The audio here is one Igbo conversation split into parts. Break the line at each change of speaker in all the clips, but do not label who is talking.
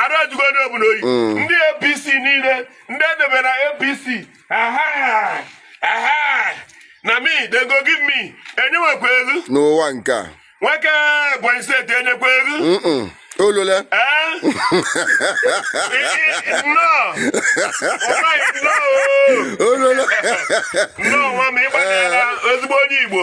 arụ ajụgo onye ọbụla oyi mm. ndị apc niile ndị edebe na apc na me they go give me enyenwekwa elu n'ụwa nke a nwoke ebonyi steeti enyekwa elu olole olole nnọọ nwa m ịgbanyela ezigbo onye igbo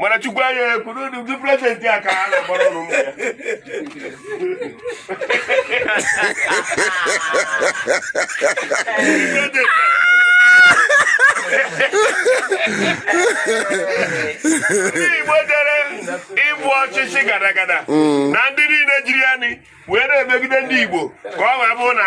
mana chukwu anya ekwuru unu ndị prezidenti a ka ha na-agbara ọrụ mma ya ndị igbo dere ịbụ ọchịchị gara gara na ndị niile jiri anyị wee na-emegide ndị igbo ka o wee bụrụ na